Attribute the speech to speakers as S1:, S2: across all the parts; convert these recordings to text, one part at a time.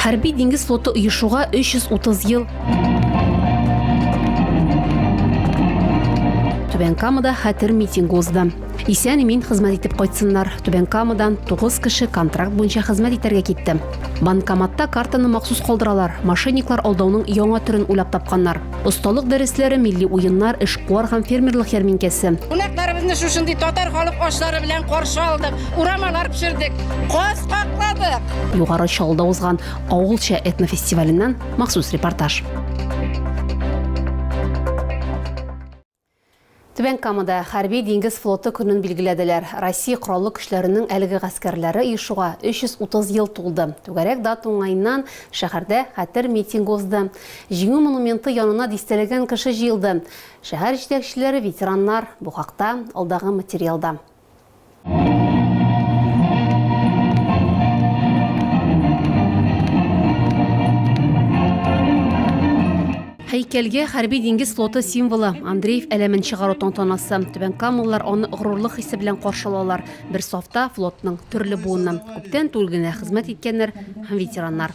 S1: Хәрби диңгез флоты оешуга 330 ел. Түбән Камада хәтер митинг узды. Исән мин хезмәт итеп кайтсыннар. Түбән Камадан 9 кеше контракт буенча хезмәт итәргә китте. Банкоматта картаны махсус калдыралар. Мошенниклар алдауның яңа төрен уйлап тапканнар. Осталык дәресләре, милли уеннар, эшкуар һәм фермерлык ярминкәсе. Кунакларыбызны шушындый
S2: татар халык ашлары белән каршы алдык, урамалар пешердек, каз какладык. Югары Чаллыда
S1: узган авылча этнофестиваленнән махсус репортаж. Түбән Камада Хәрби диңгез флоты көнен билгеләделәр. Россия Кораллы көчләренең әлеге гаскәрләре оешуга 330 ел тулды. Түгәрәк дата уңаеннан шәһәрдә хәтер митингы узды. Җиңү монументы янына дистәләгән кеше җыелды. Шәһәр җитәкчеләре, ветераннар. Бу хакта алдагы материалда. Һәйкәлгә хәрби диңгез флоты символы Андреев әләмен чыгару тантанасы. Түбән Камаллар аны горурлык хисе белән каршы алалар. Бер сафта флотның төрле буыннан күптән түгел генә хезмәт иткәннәр һәм ветераннар.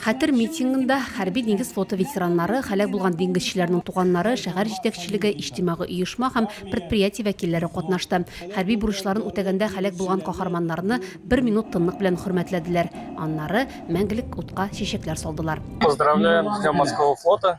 S3: Хәтер митингында
S1: хәрби диңгез флоты ветераннары, һәлак булган диңгезчеләрнең туганнары, шәһәр җитәкчелеге, иҗтимагый оешма һәм предприятие вәкилләре катнашты. Хәрби бурычларын үтәгәндә һәлак булган каһарманнарны бер минут тынлык белән хөрмәтләделәр, аннары мәңгелек утка чәчәкләр салдылар. Поздравляем с днем
S4: морского флота!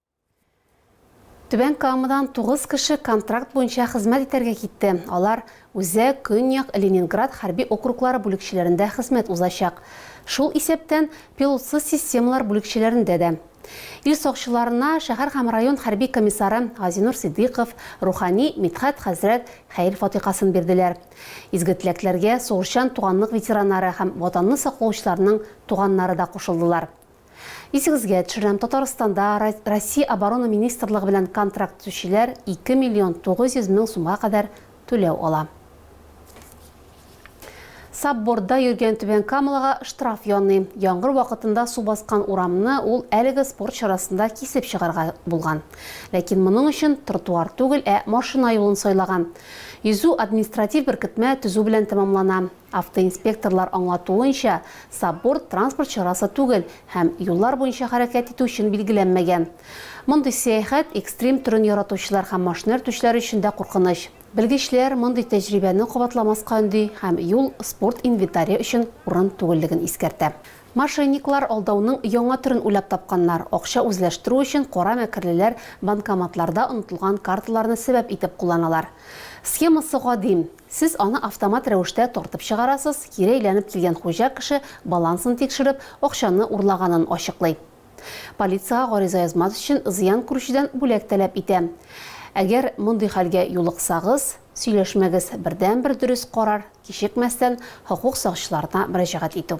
S1: Түбән Камадан тугыз кеше контракт буенча хезмәт итәргә китте. Алар Үзәк, Көньяк, Ленинград хәрби округлары бүлекчәләрендә хезмәт узачак. Шул исәптән пилотсыз системалар бүлекчәләрендә дә. Ил сакчыларына шәһәр һәм район хәрби комиссары Газинур Сидыйков, рухани Мидхәт хәзрәт хәер фатихасын бирделәр. Изге теләкләргә сугышчан туганлык ветераннары һәм Ватанны саклаучыларның туганнары да кушылдылар. Исегезгә төшерәм, Татарстанда Россия Оборона министрлыгы белән контракт төзүчеләр 2 миллион 900 мең сумга кадәр түләү ала. Сабборда йөргән Түбән Камалага штраф яный. Яңгыр вакытында су баскан урамны ул әлеге спорт чарасында кисеп чыгарга булган. Ләкин моның өчен тротуар түгел, ә машина юлын сайлаган. Йөзү административ беркетмә төзү белән тәмамлана. Автоинспекторлар аңлатуынча, сабборд транспорт чарасы түгел һәм юллар буенча хәрәкәт итү өчен билгеләнмәгән. Мондый сәяхәт экстрим төрен яратучылар һәм машина йөртүчеләр өчен дә куркыныч. Белгечләр мондый тәҗрибәне кабатламаска өнди һәм юл спорт инвентаре өчен урын түгеллеген искәртә. Мошенниклар алдауның яңа төрен уйлап тапканнар, акча үзләштерү өчен кара мәкерлеләр банкоматларда онытылган карталарны сәбәп итеп кулланалар. Схемасы гади, Сез аны автомат рәвештә тартып чыгарасыз, кире әйләнеп килгән хуҗа кеше балансын тикшереп, акчаны урлаганын ачыклый. Полициягә гариза язмас өчен зыян күрүчедән бүләк таләп итә. Әгәр мондый хәлгә юлыксагыз, сөйләшмәгез, бердәнбер дөрес карар, кичекмәстән хокук сакчыларына мөрәҗәгать итү.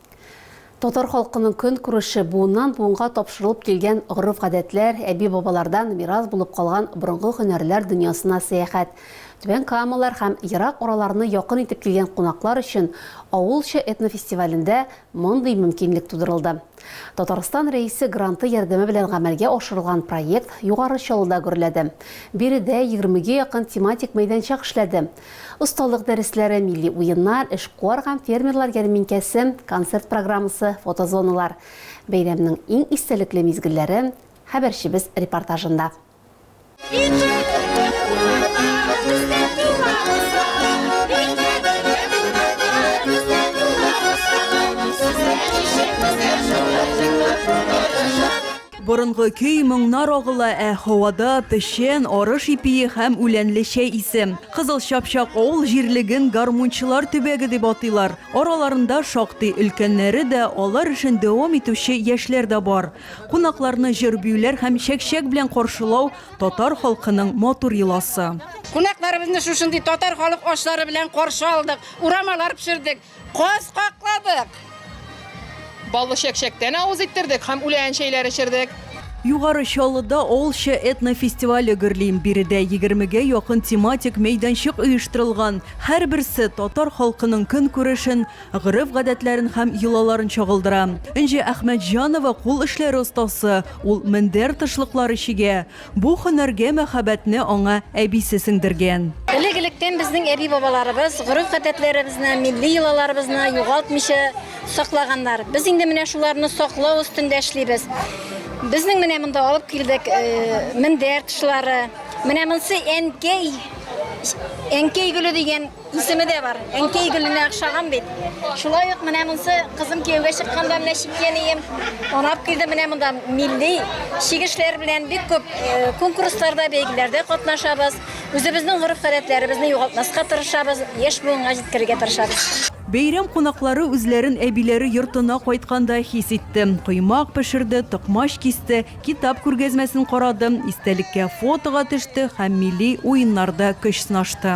S1: Татар халкының көнкүреше буыннан-буынга тапшырылып килгән гореф-гадәтләр, әби-бабалардан мирас булып калган борынгы һөнәрләр дөньясына сәяхәт. Түбән Камалар һәм ерак араларны якын итеп килгән кунаклар өчен Авылча этнофестивалендә мондый мөмкинлек тудырылды. Татарстан Рәисе гранты ярдәме белән гамәлгә ашырылган проект Югары Чаллыда гөрләде. Биредә егермегә якын тематик мәйданчык эшләде. Осталык дәресләре, милли уеннар, эшкуар һәм фермерлар ярминкәсе, концерт программасы, фотозоналар. Бәйрәмнең иң истәлекле мизгелләре хәбәрчебез репортажында.
S5: Борынгы көй, моңнар агыла, ә һавада, печән, арыш ипие һәм үләнле чәй исе. Кызыл Чапчак авыл җирлеген гармунчылар төбәге дип атыйлар. Араларында шактый өлкәннәре дә, алар эшен дәвам итүче яшьләр дә бар. Кунакларны җыр-биюләр һәм чәкчәк белән каршылау, татар халкының матур йоласы. Кунакларыбызны
S2: шушындый татар халык ашлары белән каршы алдык, урамалар пешердек. Каз какладык!
S6: Баллы чәкчәктән авыз иттердек һәм үлән чәйләр эчердек. Югары
S5: Чаллыда Олча этнофестивале гөрли. Биредә егермегә якын тематик мәйданчык оештырылган. Һәрберсе татар халкының көнкүрешен, гореф-гадәтләрен һәм йолаларын чагылдыра. Энҗе Әхмәтҗанова, кул эшләре остасы, ул мендәр тышлыклары чигә. Бу һөнәргә мәхәббәтне аңа әбисе сеңдергән. Элек-электән безнең
S7: әби-бабаларыбыз гореф-гадәтләребезне, милли йолаларыбызны югалтмыйча саклаганнар. Без инде менә шуларны саклау өстендә эшлибез. Безнең менә монда алып килдек мендәр тышлары. Менә монсы әнкәй, әнкәй гөле дигән. Исеме дә бар. Әнкәй гөленә охшаган бит. Шулай ук менә монсы кызым кияүгә чыкканда менә чиккәнием. Анап килде менә монда милли чигешләр белән бик күп э, конкурсларда, бәйгеләрдә катнашабыз. Үзебезнең гореф-гадәтләребезне югалтмаска тырышабыз, яшь буынга җиткерергә тырышабыз. Бәйрәм кунаклары
S5: үзләрен әбиләре йортына кайтканда хис итте. Коймак пешерде, токмач кисте, китап күргәзмәсен карады, истәлеккә фотога төште һәм милли уеннарда көч сынашты.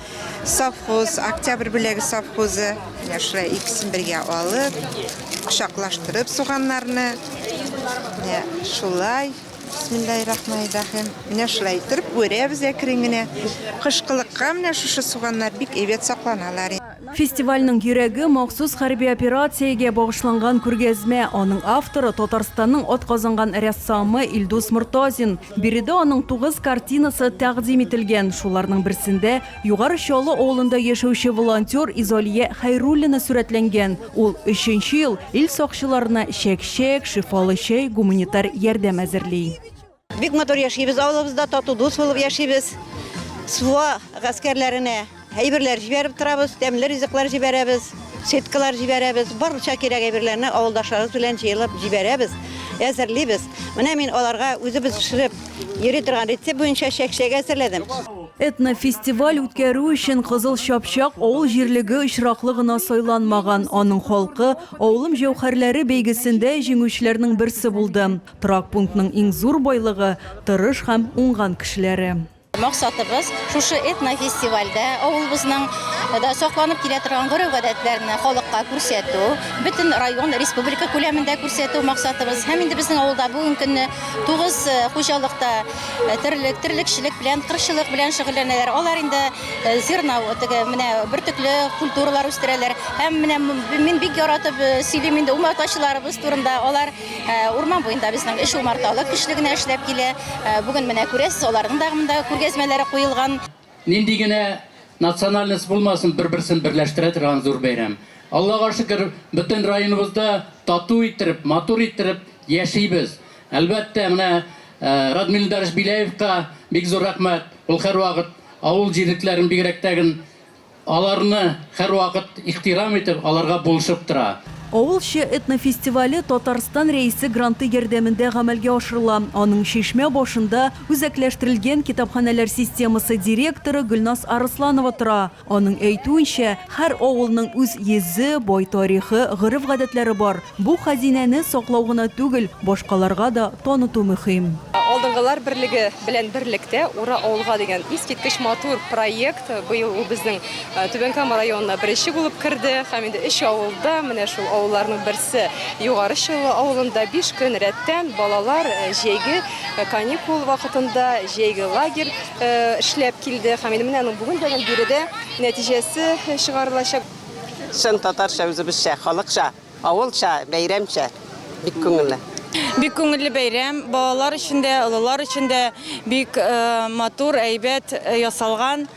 S8: Совхоз, Октябрь бүләге совхозы. Менә шулай икесен бергә алып, кочаклаштырып суганнарны. Менә шулай. Бисмиллаһиррахманиррахим. Менә шулай итеп үрәбез әкрен генә. Кышкылыкка менә шушы суганнар бик әйбәт сакланалар. Фестивальнең
S5: йөрәге, махсус хәрби операциягә багышланган күргәзмә. Аның авторы, Татарстанның атказанган рәссамы Илдус Мортазин. Биредә аның тугыз картинасы тәкъдим ителгән. Шуларның берсендә Югары Чаллы авылында яшәүче волонтер Изалия Хәйруллина сурәтләнгән. Ул өченче ел ил сакчыларына чәк-чәк, шифалы чәй, гуманитар ярдәм әзерли. Бик матур
S9: яшибез авылыбызда, тату дус булып яшибез. Суа гаскәрләренә. Әйберләр җибәреп торабыз, тәмле ризыклар җибәрәбез, сеткалар җибәрәбез, барча кирәк әйберләрне авылдашларыбыз белән җыелып җибәрәбез, әзерлибез. Менә мин аларга үзебез пешереп йөри торган рецепт буенча чәкчәк әзерләдем. Этнофестиваль
S5: үткәрү өчен Кызыл Чапчак авыл җирлеге очраклы гына сайланмаган. Аның халкы Авылым җәүһәрләре бәйгесендә җиңүчеләрнең берсе булды. Торак пунктның иң зур байлыгы, тырыш һәм уңган кешеләре. Максатыбыз
S7: шушы этнофестивальдә авылыбызның да сакланып килә торган гореф-гадәтләрне халыкка күрсәтү, бөтен район, республика күләмендә күрсәтү максатыбыз. Һәм инде безнең авылда бүгенге көнне тугыз хуҗалыкта терлек, терлекчелек белән, кырчылык белән шөгыльләнәләр. Алар инде зерна, теге менә бөртекле культуралар үстерәләр. Һәм менә мин бик яратып сөйлим инде умартачыларыбыз турында. Алар Урман буенда безнең өч умарталык көчле генә эшләп килә. Бүген менә күрәсез, аларның да монда күргәзмәләре куелган. Нинди генә
S10: национальность булмасын, бер-берсен берләштерә торган зур бәйрәм. Аллага шөкер, бөтен районыбызда тату иттереп, матур иттереп яшибез. Әлбәттә, менә Радмил Илдарович Беляевка бик зур рәхмәт, ул һәрвакыт авыл җирлекләрен, бигрәк тә Аларны һәрвакыт ихтирам итеп, аларга булышып тора. Авыл
S5: чы этнофестивале Татарстан Рәисе гранты ярдәмендә гамәлгә ашырыла. Аның Чишмә башында үзәкләштерелгән китапханәләр системасы директоры Гөлназ Арысланова тора. Аның әйтүенчә, һәр авылның үз йөзе, бай тарихы, гореф-гадәтләре бар. Бу хәзинәне саклау гына түгел, башкаларга да таныту мөһим. Алдынгылар берлеге
S6: белән берлектә Ура авылга дигән искиткеч матур проект Быел ул безнең Түбән Кама районына беренче булып керде һәм инде өч авылда, менә шул авылларның берсе Югары Чаллы авылында биш көн рәттән балалар җәйге каникул вакытында җәйге лагерь эшләп килде һәм инде менә аның бүген дә гел биредә нәтиҗәсе чыгарылачак. Чын
S9: татарча, үзебезчә, халыкча. Авылча, бәйрәмчә, бик күңелле. Бик күңелле
S2: бәйрәм, балалар өчен дә, олылар өчен дә бик матур, әйбәт ясалган.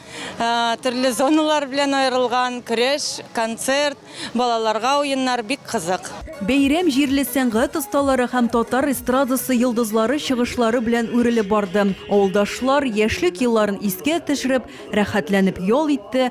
S2: Төрле зоналар белән аерылган, көрәш, концерт, балаларга уеннар, бик кызык. Бәйрәм җирле
S5: сәнгать осталары һәм татар эстрадасы йолдызлары чыгышлары белән үрелеп барды. Авылдашлар, яшьлек елларын искә төшереп, рәхәтләнеп ял итте,